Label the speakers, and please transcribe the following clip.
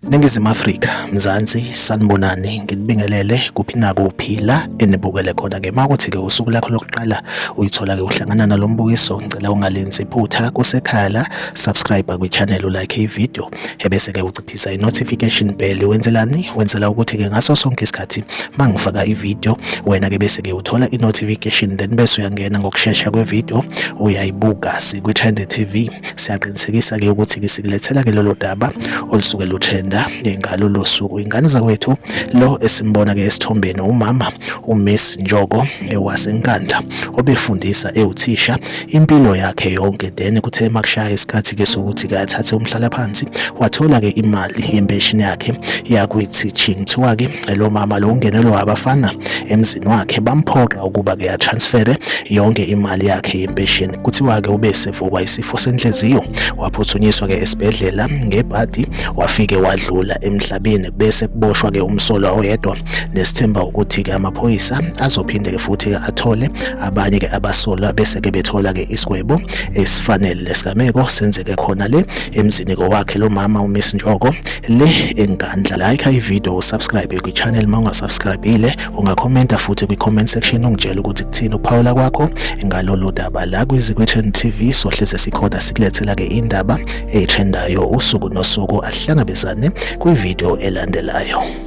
Speaker 1: Ningizimu Afrika, Mzansi, sanibonani, nginibingelele kuphi nakuphi la enibukele khona ke makuthi ke usuku lakho lokuqala uyithola ke uhlangana nalombukiso ngicela ungalenzi iphutha kusekhaya la subscribe kwi channel like i video ebese ke uciphisa i notification bell wenzelani wenzela ukuthi ke ngaso sonke isikhathi mangifaka i video wena ke bese ke uthola i notification then bese uyangena ngokushesha kwe video uyayibuka sikwi Trend TV siyaqinisekisa ke ukuthi ke sikulethela ke lolo daba olusuke lutrenda ngalo losuku ingane zakwethu lo esimbona ke esithombeni umama uMiss Njoko ewasenkanda obefundisa ewuthisha impilo yakhe yonke then kuthe makushaya isikhathi ke sokuthi ke athathe umhlalaphansi wathola ke imali yempeshini yakhe yakwi teaching kuthiwa ke lo mama lo ungenelwe abafana emzini wakhe bamphoqa ukuba ke atransfere yonke imali yakhe yempesheni kuthiwa ke ube sevukwa isifo senhliziyo waphuthunyiswa ke esibhedlela ngebhadi wafike wadlula emhlabeni bese kuboshwa ke umsolwa oyedwa nesithemba ukuthi ke amaphoyisa azophinde ke futhi ke athole abanye ke abasolwa bese ke bethola ke isigwebo esifanele lesigameko senzeke khona le emzini kowakhe lo mama uMiss Njoko le engandla like i video subscribe kwi channel mawungasubscribile ungakhomenta futhi kwi comment section ungitshela ukuthi kuthini ukuphawula kwakho ngalolu daba la kwizikwe Trend TV sohleze sikhona sikulethela ke indaba etrendayo usuku nosuku ahlangabezane kwi video elandelayo